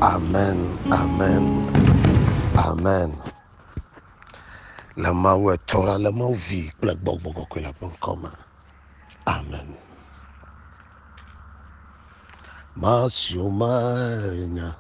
Amen, amen, amen. Le Mawu etɔ la, le Mawu vi kple gbɔgbɔ kɔkɔe la ƒe ŋkɔ me. Amen. Masio manya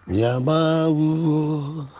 mia Mawuwo.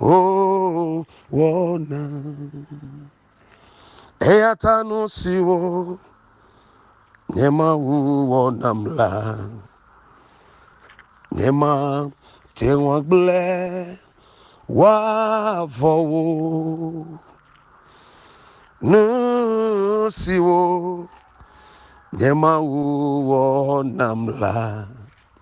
Oh, wɔna. Eya ta nu siwo nye Mawu wɔ nam la, nye mate ŋu agblẽ woavɔ wo. Nu siwo nye Mawu wɔ nam la.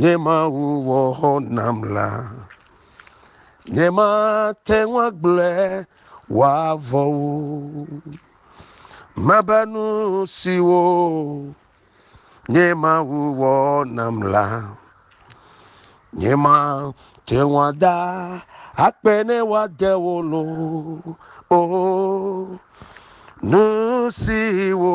Nye Mawu wɔ nam la, nye mate ŋu agblẽ wòavɔ o. Mebe nu siwo nye Mawu wɔ nam la, nye mate ŋu ada akpe ne wòade wo lo o. Nu siwo.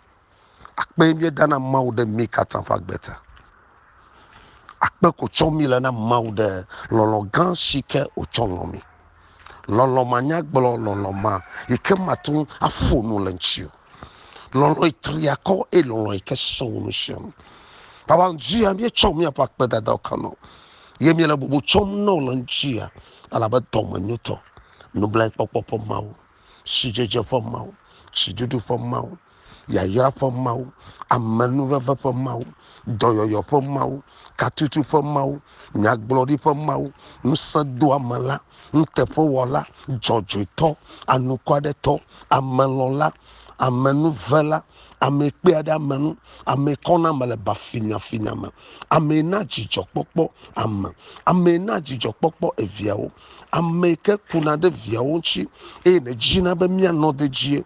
Akpe mie da na Mawu ɖe mi katã ƒe agbe ta. Akpe ko tsɔ mi le na Mawu ɖe lɔlɔ gã si ke o tsɔ lɔ mi. Lɔlɔ ma nya gblɔ lɔlɔ ma yi ke ma tún afo nu le ŋtsi o. Lɔlɔ yi tri akɔ e lɔlɔ yi ke sɔ wo nu sia nu. Baba ŋtsi ya mi tsɔ mi aƒe akpe dada o kanɔ. Ye mi le bubu tsɔm nɔ le ŋtsi ya alabe dɔ me nyotɔ. Nublae kpɔkpɔ ƒe Mawu. sidzedze ƒe Mawu, siɖuɖu ƒe Mawu, yayra ƒe Mawu, amenuveve ƒe Mawu, dɔyɔyɔ ƒe Mawu, katutu ƒe Mawu, nyagblɔɖi ƒe Mawu, ŋusẽdoamela, nuteƒewɔla, dzɔdzɔetɔ, anukwaretɔ, amelɔla, amenuvela, ame kpea ɖe ame ŋu, ame kɔna ame le bafinyafinya me, ame na dzidzɔkpɔkpɔ ame, ame na dzidzɔkpɔkpɔ eviawo. Ame yi ke kuna ɖe viawo ŋuti eye nèdzina be míanɔ dedie.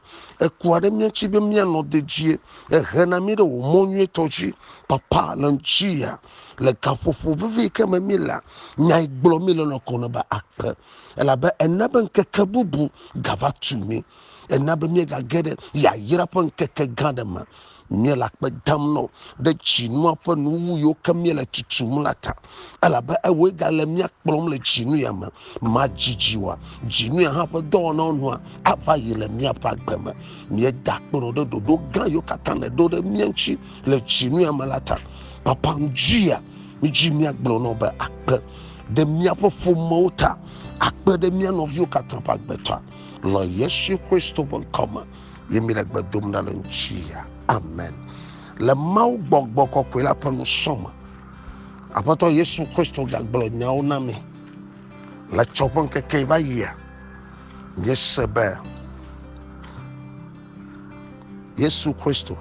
Ekua ɖe mía ŋuti be míanɔ dedie. Ehena mí ɖe wò mɔ nyuietɔ dzi. Papa, le ŋutsia, le gaƒoƒo vevi yi ke me mílea, nya yi gblɔ míle lɔ̃ ko nebe akpe. Elabe ena be ŋkeke bubu gava tu mí. ena be míegage ɖe yayra ƒe ŋkeke gã ɖe me míele akpe dam nɔ ɖe tsinua ƒe nuwu yiwo ke míele tutum la ta elabe ewoe gale mía kplɔm le dzinu ya me madzidzi wa dzinu ya hã ƒe dɔwɔnawo nua ava yi le míaƒe agbe me míeda akpe nɔ ɖe ɖoɖo gã yiwo katã le ɖo ɖe mía ŋuti le dzinu ya me la ta papa ŋdzi ya mídzi míagblɔ nɔ be akpe ɖe míaƒe ƒomewo ta akpe ɖe mía nɔviwo katã ƒe agbe ta Le Yesu Kristo ƒe ŋkɔ me ye mi le gbe dom ɖa le ŋutia. Amen. Le Mawu gbɔgbɔ kɔkɔe la ƒe nusɔ me. Aƒetɔ Yesu Kristo gagblɔ nyawo na mi. Le tsɔ ƒe ŋkeke va yia, miese be Yesu Kristo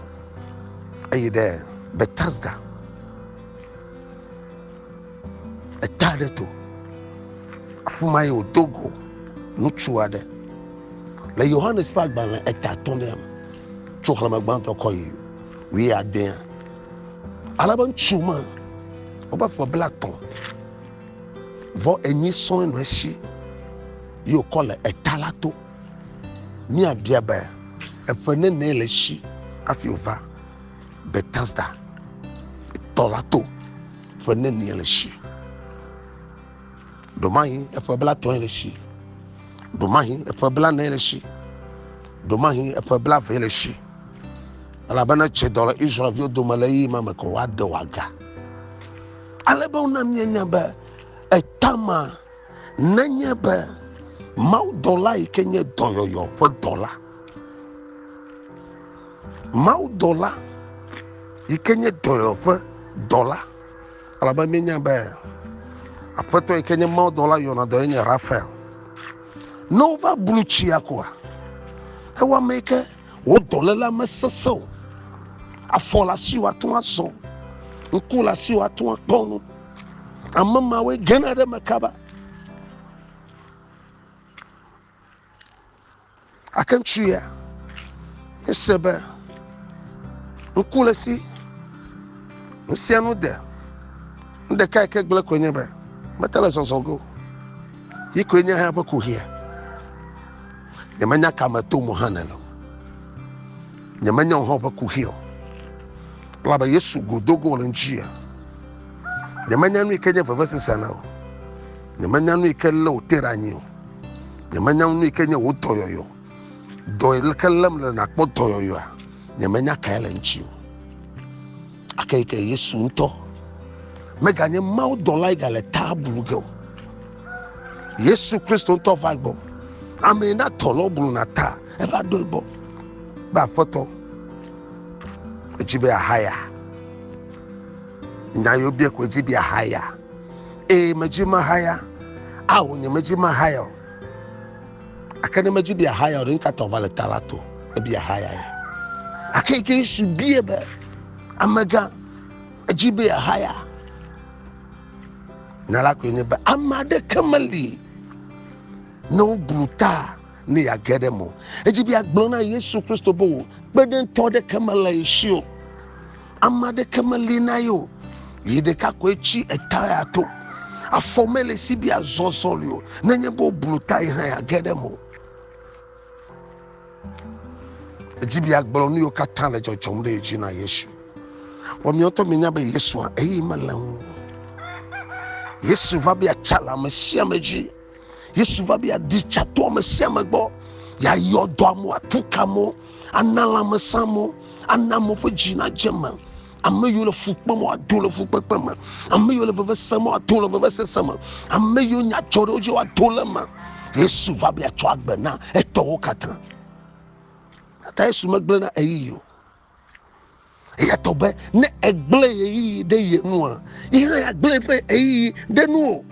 eyi ɖe Bethesda eta ɖe to afi ma ye wòdo go ŋutsu aɖe le yohanes ƒe agbalẽ eta atɔ̃lia me tso xlẽme gbãtɔ kɔ yi wui adea ale be ŋutsu ma wobe ƒe bla tɔ̃ vɔ enyi sɔe nɔ esi yi wòkɔ le eta la to míabia be eƒe nene le si hafi wòva Betesda tɔ la to ƒe nenie le si. Ɖomahi eƒe blatɔe le si. Ɖomahi eƒe blanee le si. Ɖomahi eƒe blavee le si. Elabena tse dɔ le Israelviwo dome le ɣeyiɣi ma me ko woaɖe wòaga. Ale be wona míenya be etama nenye be mawudɔla yi ke nye dɔyɔyɔ ƒe dɔla Mawudɔla yi ke nye dɔyɔƒe dɔla, elabe míenya be Aƒetɔ yi ke nye mawudɔla yɔna dɔ enye Rafael. Ne wova blu tsia koa, ewa ame yi ke wò dɔléla mesesẽ o. Afɔ le asi wòate ŋu azɔ, ŋku le asi wòate ŋu akpɔ nu. Ame mawoe gena ɖe eme kaba. Gake ŋutsu ya ese be ŋku le si nu sia nu de. Nu ɖeka yi ke gblẽ koe nye be mete le zɔzɔ ge o. Yi koe nye eƒe kuxia. Nyemenya ka me tom o hã nene o. Nyemenya wò hã woƒe kuxi o. Elabe Yesu go do go le ŋuti o. Nyemenya nu yi ke nye vevesese na o. Nyemenya nu yi ke lé wò te ɖe anyi o. nyemenya nu yi ke nye wò dɔyɔyɔ dɔ yi ke lém le nàkpɔ dɔyɔyɔa nyemenya kae le ŋuti o ake yi ke yesu ŋutɔ meganye mawo dɔla yi gale taa blu ge o yesu kristo ŋutɔ va gbɔ ame yi na tɔ lɔ blu na ta eva ɖoe gbɔ be aƒetɔ edzi be ahaya nya yewo bia ko edzi be ahaya Ee, medzi mahaya. Ao, nye medzi mahaya o. Ake ne medzi bia haya o, ɖe ŋkatɔ va le ta la to, ebia haya ye. Ake yi ke Yesu bie be, amegã, edzi be haya. Na la koe nye be, ame aɖeke meli ne woblu ta ne yeage ɖe mo. Edzi be agblɔ na Yesu Kristo be wò kpeɖeŋtɔ aɖeke mele ye si o. Ame aɖeke meli na ye o. Yi ɖeka koe tsi eta ya to. Afɔ mele si bi azɔ sɔli o. Nenye be woblu ta yi hã age ɖe mo. Edzi bi agblɔ nu yiwo katã le dzɔdzɔm ɖe edzi na Yesu. Vɔ miɔtɔ mi nya be Yesua eyi mele ŋu. Yesu va be atsa le ame sia ame dzi. yesu va be yeaɖi tsa to ame sia ame gbɔ yeayɔ dɔ amewo atu ka amewo ana lãmesẽ amewo ana amewo ƒe dzi nadze me ame yiwo le fu kpem woado le fukpekpe me ame yiwo le veve sem woado le veve sese me ame yiwo nya dzɔ ɖe wo dzi woado le me yesu va be yeatsɔ agbe na etɔwo katã gake yesu megblẽ na ɣeyiɣi o Eya tɔ be ne egblẽ ɣeyiɣi ɖe ye nua, yi hã agblẽ ƒe ɣeyiɣi ɖe nu o.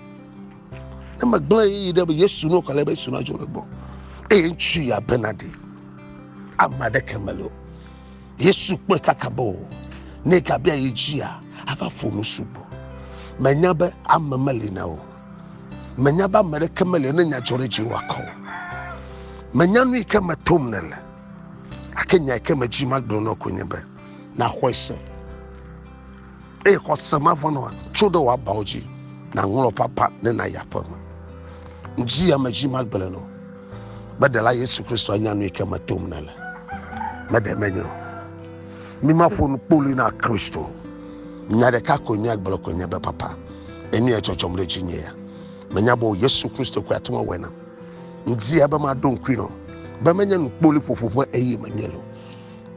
Ne megblẽ ɣeyiɣi ɖe be Yesu nu kɔ le be Yesu na dzo le gbɔ. Eye ŋutsu ya bena ɖi. Ame aɖeke mele o. Yesu kpɔe kaka be o. Ne gabia yi dzia, ava ƒo nu sugbɔ. Menya be ame meli na o. Menya be ame ɖeke meli ne nya dzɔ ɖe dzi wakɔ o. Menya nu yi ke me tom nèle. Ake nya ke me dzi magblɔ nɔ ko nye be na xɔe se. Eye xɔ se ma vɔ nɔ tso ɖe wa bawo dzi na ŋlɔ papa ne na ya ƒe me. Ndzi ya me dzi magblɔ nɔ be ɖe la Yesu Kristo anya nu ke me tom ne le. Me ɖe me nyo. Mi ma ƒo nu kpoli na Kristo. Nya ɖe ka ko nya gblɔ ko nye be papa. Enu ya tsɔtsɔm ɖe dzi nye ya. Me nya bo Yesu Kristo ko ya tuma wena. Ŋdia be maɖo ŋkui nɔ be menye nukpoliƒoƒo ƒe eye menye lo.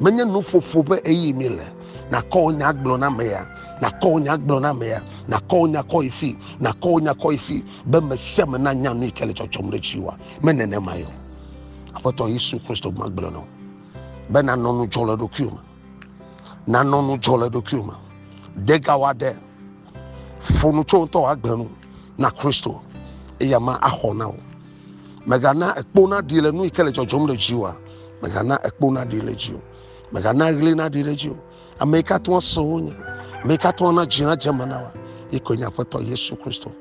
Menye nuƒoƒo ƒe eye mi le. Nakɔ wò nya gblɔ na ame ya, nakɔ wò nya gblɔ na ame ya, nakɔ wò nya kɔ yi fi, nakɔ wò nya kɔ yi fi be me sia me nanya nu yi ke le tsɔtsɔm ɖe tsi wa. Me nenema yɔ. Aƒetɔ Yesu Kristo ma gblɔ nɔ be nanɔ nudzɔ le ɖokuiwò me. Nanɔ nudzɔ le ɖokuiwò me. Degawa ɖe. Ƒo nu tso ŋutɔwò agbe nu na Kristo, eya ma axɔ na wò. Mègana ekpo naɖi le nu yi ke le dzɔdzɔm ɖe dziwòa. Mègana ekpo naɖi le dziwò. Mègana ɣli naɖi ɖe dziwò. Ame yi ke ate ŋu ase wò nya, ame yi ke ate ŋu ana dzi nadze eme na wòa, yi koe nye Aƒetɔ Yesu Kristo.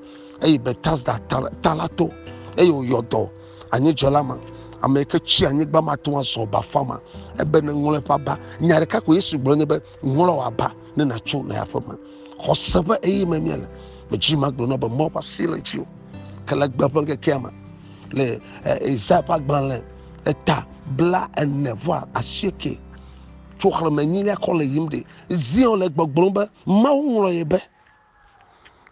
Eyi Betesda ta la to, eye wòyɔ dɔ anyidzela ma, ame yi ke tsi anyigba mate ŋu azɔ bafa ma, ebe neŋlɔ eƒe aba. Nya ɖeka ko Yesu gblɔ nye be, Ŋlɔ wòaba ne nàtso le aƒeme. Xɔse ƒe ɣeyiɣime míele. Medzi magblɔ na be Mawu ƒe asi le ŋutiwò. Ke le gbe ƒe ŋkekea me, le Isaya ƒe agbalẽ eta bla ene vɔa asieke tso xlẽme enyilia kɔ le yim ɖi. Zion le gbɔgblɔm be, Mawu ŋlɔ ye be.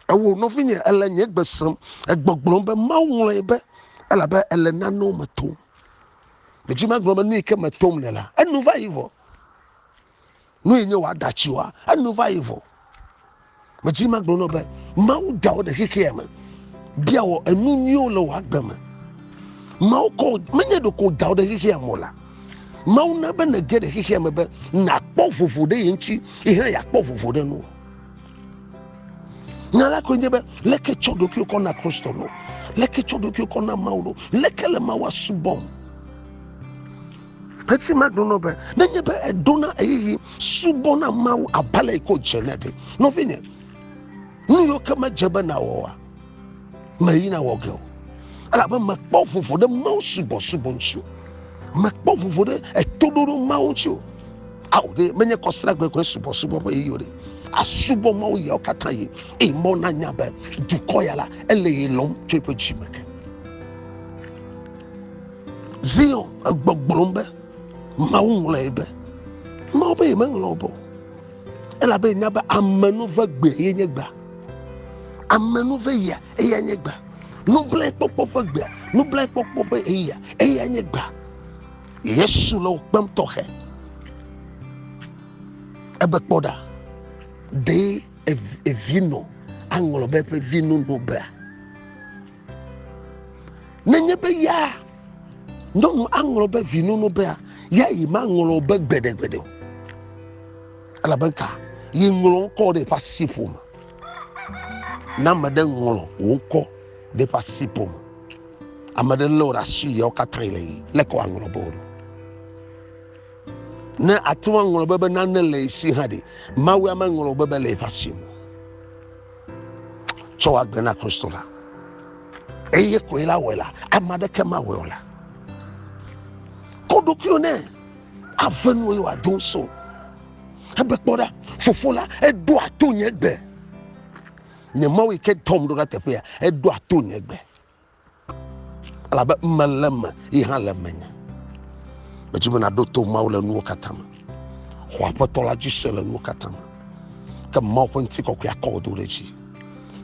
Ewò nɔvinye, èle nye gbe sem. Egbɔgblɔm be, Mawu ŋlɔ ye be, elabe èle nanewo me tom. Medzi magblɔ be nu yi ke metom le la, enu va yi vɔ. Nue nye wòa da tsioa? Enu va yi vɔ. Medzi ma gblɔ nɔ be, Mawu da wò ɖe xexea me, bia wɔ enu nyuiwo le wò agbe me. Mawu kɔ, menye ɖeko wòda wò ɖe xexea me o la. Mawu na be nège ɖe xexea me be nàkpɔ vovo ɖe ye ŋuti, yi hã yeakpɔ vovo ɖe nuwò. Nya la koe nye be, leke tsɔ ɖokuiwò kɔ na Kristo ɖo? Leke tsɔ ɖokuiwò kɔ na Mawu ɖo? Leke le Mawua subɔm? Petsi ma ɖo nɔ be, nenye be èɖona ɣeyiɣi subɔna Mawu abe ale yi ke wòdze ne ɖe, nɔvinye, nu yiwo ke medze be nàwɔa, mèyi na wɔ ge o. Elabe mèkpɔ vovo ɖe Mawu subɔsubɔ ŋuti o. Mèkpɔ vovo ɖe etoɖoɖo Mawu ŋuti o. Ao ɖe, menye kɔsiɖa gbegblẽ subɔsubɔ ƒe ɣeyiɣi o ɖe. Àsubɔ Mawu ɣeawo katã ɣi, eye Mawu nanya be dukɔ ya la, ele ye lɔ̃m tso eƒe dzi me ke. Zion egbɔgblɔm be, Mawu ŋlɔe be. Mawu be yemeŋlɔ be o, elabe nya be amenuve gbe ye nye gbea. Amenuve ya eya nye gbea. Nublaekpɔkpɔ ƒe gbea, nublaekpɔkpɔ ƒe eya eya nye gbea. Yesu le wo kpem tɔxɛ. Ebe kpɔ ɖa, ɖe evi nɔ aŋlɔ be eƒe vi nu nɔ bea? nenye be ya nyɔnu aŋlɔ be vinono bea ya yi maŋlɔ be gbeɖegbeɖe o elabe ka yi ŋlɔ ŋkɔ ɖe eƒe asi ƒome na ame ɖe ŋlɔ wò ŋkɔ ɖe eƒe asi ƒome ame ɖe lé wò ɖe asi yawo katã le yi leke wòaŋlɔ be wò ɖo ne ate ŋu aŋlɔ be be nane le esi hã ɖe mawu ya maŋlɔ be be le eƒe asi me tsɔ wɔ agbe na Kristo la, eye koe la wɔe la, ame aɖeke mawɔe o la. Kɔ ɖokuiwò nɛ, ave nuwò eye wòado ŋusẽ wò. Ebe kpɔ ɖa, Fofo la, eɖoa to nye gbe. Nye Mawu yi ke dɔm ɖo ɖa teƒea, eɖoa to nye gbe. Elabe mele eme, ye hã le menye. Medzi be nàɖo to Mawu le nuwo katã me. Xɔ Aƒetɔ la dzi se le nuwo katã me. Ke Mawu ƒe ŋutikɔkɔe akɔ wò do ɖe dzi.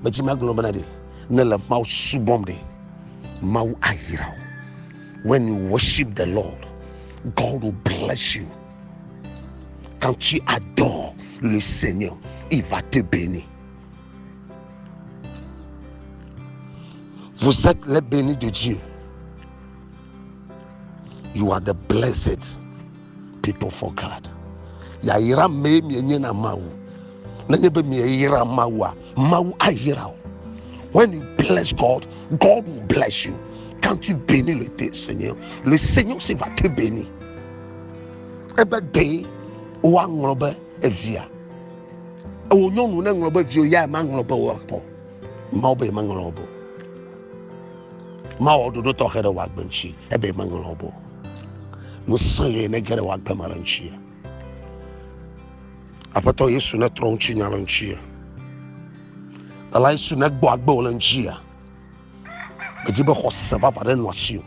Medzi magblɔ bena ɖe nèle Mawu subɔm ɖe, Mawu ayra wò. When you worship the Lord, God will bless you. Quand tu adores le Seigneur, il va te bénir. Vous êtes les bénis de Dieu. You are the blessed people for God. Yayira mee mienye na Mawu. Nenye be mieyira Mawua, Mawu ayira o. When you bless God, God will bless you. Quand tu bénis le Seigneur, le Seigneur se va te bénir. Ebe de woaŋlɔ be evia. Ewò nyɔnu ne ŋlɔ be viwo ya ma ŋlɔ be wɔ pɔ. Mawo be ma ŋlɔ bo. Mawo dodo tɔxe ɖe wɔ gbenci ebe ma ŋlɔ bo. Nu sã ye ne gere wɔ gbema le nci. Aƒetɔ Yesu ne trɔ nci nya le nci. Ela Yesu ne gbɔ agbe le nci. Medi be xɔse vava ɖe nɔ asi o.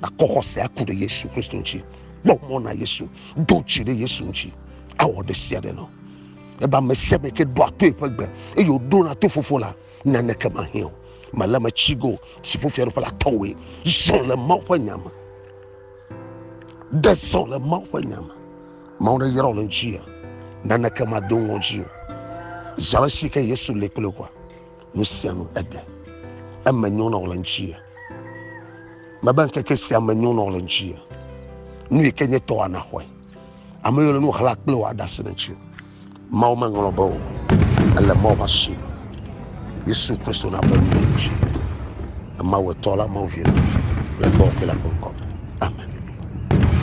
Nakɔ xɔsea ku ɖe Yesu Kristo ŋuti. Kpɔ mɔ na Yesu. Do dzi ɖe Yesu ŋuti. Awɔ ɖe sia ɖe nɔ. Ebe ame sia ame ke ɖoa to eƒe gbe eye wòɖona to Fofo la, naneke mahiã o. Mele eme tsi go si ƒo fiaɖuƒe la tɔwoe. Zɔ le Mawu ƒe nya me. Ɖe zɔ le Mawu ƒe nya me. Mawu ɖe yra wò le ŋuti ya. Naneke mado ŋɔdzi o. Zi ale si ke Yesu li kple wòa. nu sia nu eɖe eme nyo nɔ le ŋuti mebe ŋkeke sia me nyo nɔ le ŋuti nu yi ke nye tɔ ana xɔe ame yiwo le nu xla kple wòa ɖase ɖe ŋuti mawo meŋlɔ be o ele mawo va si yesu kristo na ƒe nuwo ŋuti emawo etɔ la mawo vi la le gbɔ kple le ƒe ŋkɔ me amen